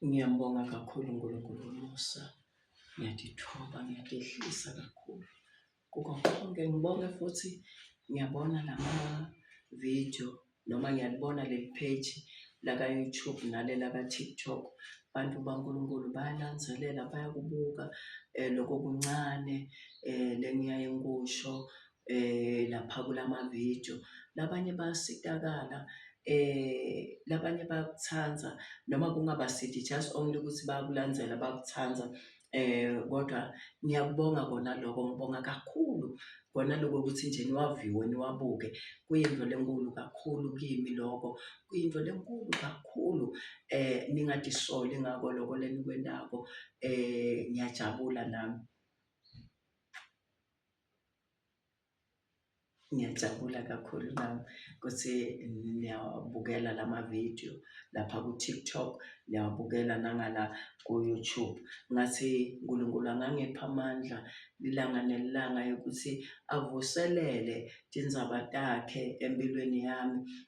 Ngiyambonga kakhulu uNkulunkulu umusa. Ngiyadithoba, ngiyadehlisa kakhulu kuko konke. Ngibonge futhi ngiyabona lama-video noma ngiyalibona leli page laka-YouTube nale laka-TikTok. Bantu baNkulunkulu bayalangazelela bayakubuka loko okuncane le engiyaye ngikusho. eh lapha kulama video labanye bayasitakala eh labanye bayakuthanda noma kungaba sithi just only ukuthi bayakulandzela bayakuthanda eh kodwa ngiyakubonga kona lokho ngibonga kakhulu kona lokho ukuthi nje niwaviwe niwabuke kuyinto lenkulu kakhulu kimi lokho kuyinto lenkulu kakhulu eh ningadisoli ngako lokho lenikwendako eh ngiyajabula nami Ngiyajabula kakhulu nami ukuthi niyawabukela la mavidiyo lapha ku-TikTok, niyawabukela nangala ku-YouTube. Ngathi uNkulunkulu angangipha amandla ilanga nelanga yokuthi avuselele tindzaba takhe empilweni yami,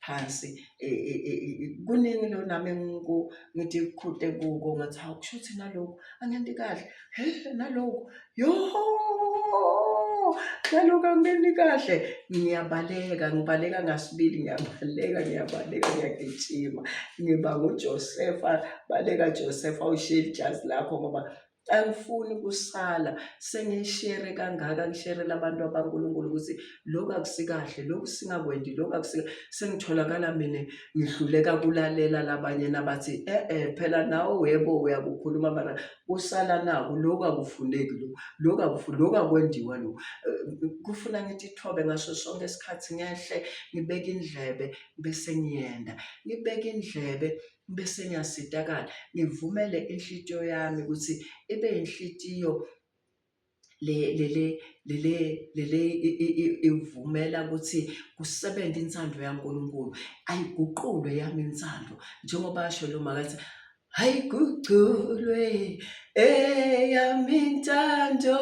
phansi e, e, e, kuningi lo nami engiku ngithi kuqhude kuko ngathi hawu kusho ukuthi nalokhu angenti kahle he nalokhu yoho nalokhu angenti kahle ngiyabaleka ngibaleka ngasibili ngiyabaleka ngiyabaleka ngiyagijima ngiba nguJosefa baleka Josefa usheli ijazi lakho ngoba angifuni kusala sengishere kangaka ngisherela abantu abankulunkulu ukuthi lokhu akusikahle lokhu singakwendi lokhu akusika sengitholakala mina ngihluleka kulalela labanye nabathi e-e phela nawe webo uyakukhuluma mara kusala naku lokhu akufuneki lo lokhu akufu lokhu akwendiwa lo eh, kufuna ngithi thobe ngaso sonke isikhathi ngehle ngibeke indlebe bese ngiyenda ngibeke indlebe Bese ngiyasitakala ngivumele inhlitiyo yami ukuthi ibe inhlitiyo le lele lele lele ivumela ukuthi kusebenze insando yaNkulunkulu ayiguqulwe yami insando njengoba asho lo makathi ayiguqulwe eyami intando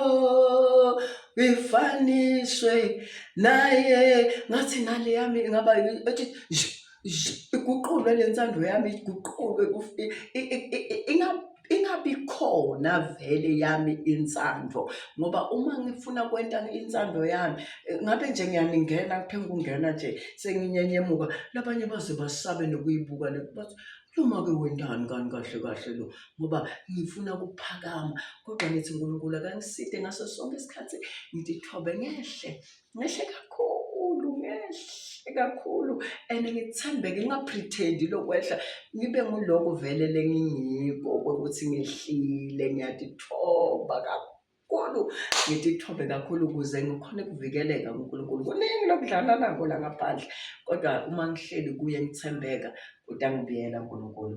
ifaniswe naye ngathi nale yami ingaba ethi iguqulwe le ntsando yami iguqulwe ingabi khona vele yami insando ngoba uma ngifuna kwenta insando yami ngabe nje ngiyaningena kuthe ngikungena nje senginyenyemuka labanye baze basabe nokuyibuka le bathi noma-ke wendani kani kahle kahle lo ngoba ngifuna kuphakama kodwa ngithi nkulunkulu akangiside ngaso sonke isikhathi ngithithobe ngehle ngehle kakhulu ngehle kakhulu and ngithembeke ngingapretendi lokwehla ngibe nguloko vele lengingiko ukuthi ngehlile ngiyatithoba kakhulu kakhulu ngitithobe kakhulu ukuze ngikhone ukuvikeleka kuNkulunkulu kuningi lokudlala nako la ngaphandle kodwa uma ngihleli kuye ngithembeka udangibiyela uNkulunkulu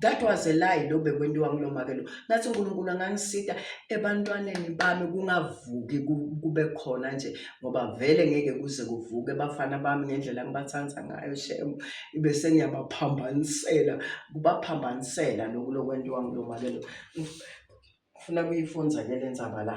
That was a lie lo bekwentiwa ngilomake lo. Ngathi uNkulunkulu angangisita ebantwaneni bami kungavuki kube khona nje ngoba vele ngeke kuze kuvuke bafana bami ngendlela ngibathanda ngayo shem ibe sengiyabaphambanisela kubaphambanisela lokhu lokwentiwa ngilomake lo. Ngifuna kuyifunza ke lenzaba la.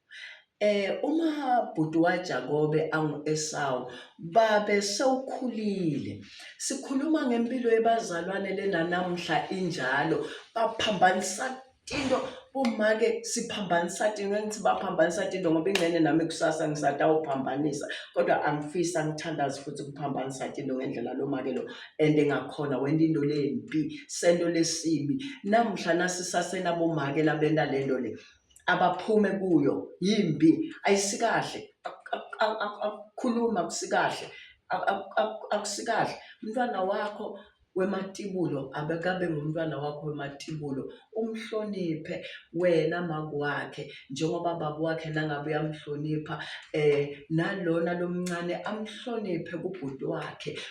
Eh uma bhuti waJakobe angu-Esawu babe sewukhulile. Sikhuluma ngempilo yebazalwane lena namuhla injalo baphambanisa tinto bomake siphambanisa tinto engithi baphambanisa tinto ngoba ingxenye nami kusasa ngisatawuphambanisa kodwa angifisi angithandazi futhi ukuphambanisa tinto ngendlela lo make lo and engakhona wenta into lembi sento lesibi namuhla nasisasenabomake labenta lento le abaphume kuyo yimbi ayisikahle akukhuluma akusikahle akusikahle umntwana wakho wematibulo abekabe ngumntwana wakho wematibulo umhloniphe wena makwakhe njengoba baba wakhe nangabe uyamhlonipha um nalona lomncane amhloniphe kubhuti wakhe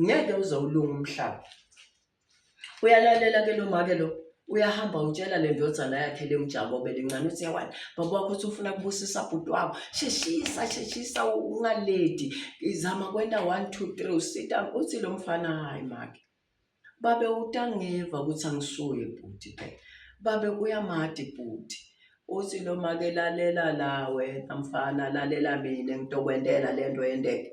ngeke uze ulunge umhlaba uyalalela ke lo make lo uyahamba utshela le ndodana yakhe le mjabo belincane uthi yawani baba wakho uthi ufuna kubusisa bhuti wabo sheshisa sheshisa ungaledi izama kwenta one two three usita uthi lo mfana hhayi make babe utangeva ukuthi angisuye bhuti phela babe uyamadi bhuti uthi lo make lalela la wena mfana lalela mina ngitokwentela le nto yendeke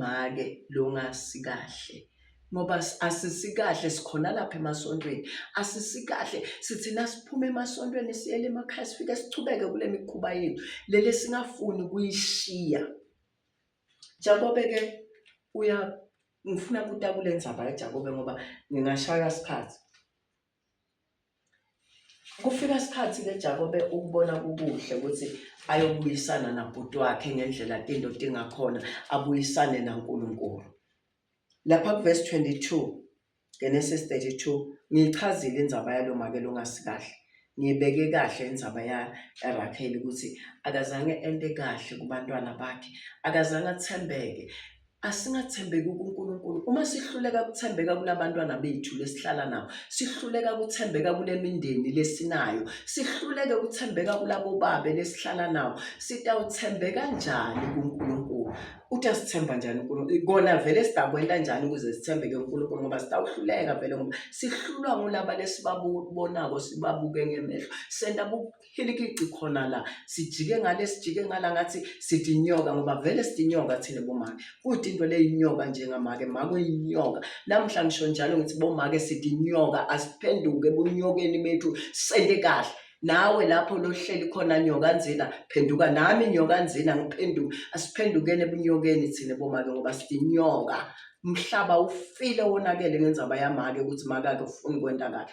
Make long'asikahle ngoba asisikahle sikhona lapha emasontweni asisikahle sithina siphuma emasontweni siyele emakhaya sifike sichubeke kule mikhuba yethu lele singafuni kuyishiya Jakobe-ke uya ngifuna kutakule ndzaba yaJakobe ngoba ngingashaywa sikhathi. Kufika isikhathi ke Jakobe ukubona kukuhle ukuthi ayobuyisana nabhuti wakhe ngendlela indoda ingakhona abuyisane naNkulunkulu. Lapha kuvesi 22 Genesis 32 ngiyichazile indzaba yalomakelo ongasikahle. Ngiyibeke kahle indzaba yaRakheli ukuthi akazange ente kahle kubantwana bakhe, akazange athembeke Asingathembeki kuNkulunkulu. Uma sihluleka ukuthembeka kulabantwana bethu lesihlala nabo, sihluleka ukuthembeka kule mindeni lesinayo, sihluleke ukuthembeka kulabo babe lesihlala nabo, sitawuthembeka njani kuNkulunkulu? Uthi asithemba njani uNkulunkulu? Kona vele sidakwenta njani ukuze sithembeke uNkulunkulu ngoba sitawuhluleka vele ngoba sihlulwa ngulaba lesibabonako sibabuke ngemehlo. Senta hilikici khona la sijike ngale sijike ngala ngathi sithi inyoka ngoba vele sithi inyoka thina bomake kuthi into le inyoka njengamake mako inyoka namhla ngisho njalo ngithi bomake sithi inyoka asiphenduke ebunyokeni bethu sende kahle nawe lapho lohleli khona nyoka nzina phenduka nami nyoka nzina ngiphenduka asiphendukeni ebunyokeni thina bomake ngoba sithi inyoka umhlaba ufile wonakele ngenzaba yamake ukuthi makake ufuni kwenta kahle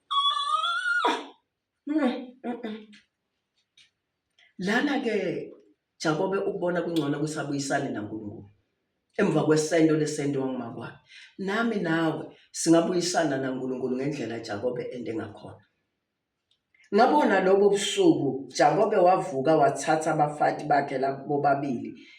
Lana-ke Jakobe ukubona kungcono ukuthi abuyisane naNkulunkulu emva kwesento lesento wangumakwami. Nami nawe singabuyisana naNkulunkulu ngendlela Jakobe ende ngakhona. Ngabona lobo busuku Jakobe wavuka wathatha abafati bakhe labo bobabili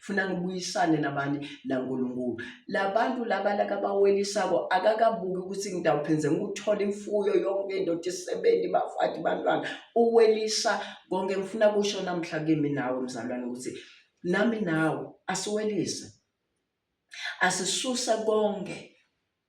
funa ngibuyisane nabani naNkulunkulu labantu laba lakabawelisako akakabuki ukuthi ngidawuphenze ngikuthola imfuyo yonke indoda isebenzi bafati bantwana uwelisa konke ngifuna kusho namhla kimi nawe mzalwane ukuthi nami nawe asiwelise asisusa konke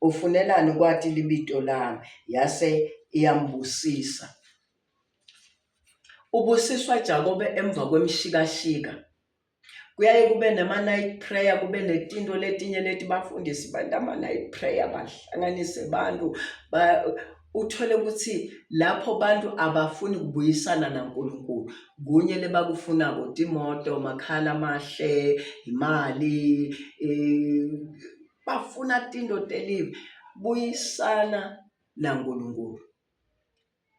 Ufunelani kwati libito lami? Yase iyambusisa. Ubusiswa Jakobe emva kwemshikashika. Kuyaye kube nama-night prayer, kube netinto letinye leti bafundisi bantu ama-night prayer, bahlanganise bantu ba, uthole ukuthi lapho bantu abafuni kubuyisana naNkulunkulu kunye lebakufunako timoto makhala amahle imali bafuna tindo telive buyisana naNkulunkulu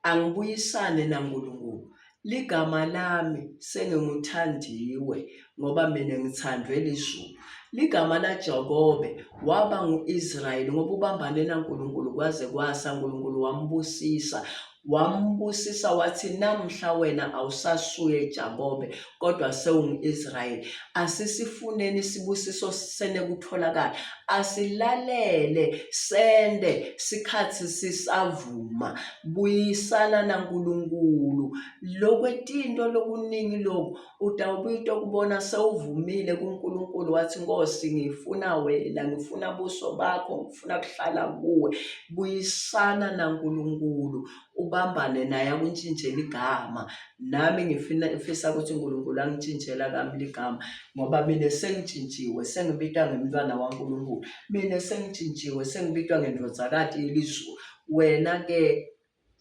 angibuyisane naNkulunkulu ligama lami senginguthandiwe ngoba mina ngithandwe lizulu ligama laJakobe waba ngu-Israyeli ngoba ubambane naNkulunkulu kwaze kwasa uNkulunkulu wambusisa Wambusisa wathi, Namhla wena awusasuye Jakobe, kodwa sewungu-Israyeli. Asisifuneni isibusiso senekutholakala, asilalele sende sikhathi sisavuma. Buyisana naNkulunkulu. Lokwetinto lokuningi loku UDawubita okubona sewuvumile kuNkulunkulu wathi, Nkosi, ngifuna wena, ngifuna buso bakho, ngifuna kuhlala kuwe. Buyisana naNkulunkulu, ubambane naye akuntshintshele igama. Nami ngifuna ngifisa ukuthi uNkulunkulu angitshintshela kami ligama ngoba mina sengitshintshiwe, sengibitwa ngemntwana waNkulunkulu. Mina sengitshintshiwe, sengibitwa ngendodakati yelizulu. Wena-ke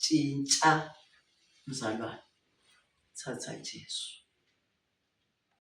Tshintsha mzalwane, thatha Jesu.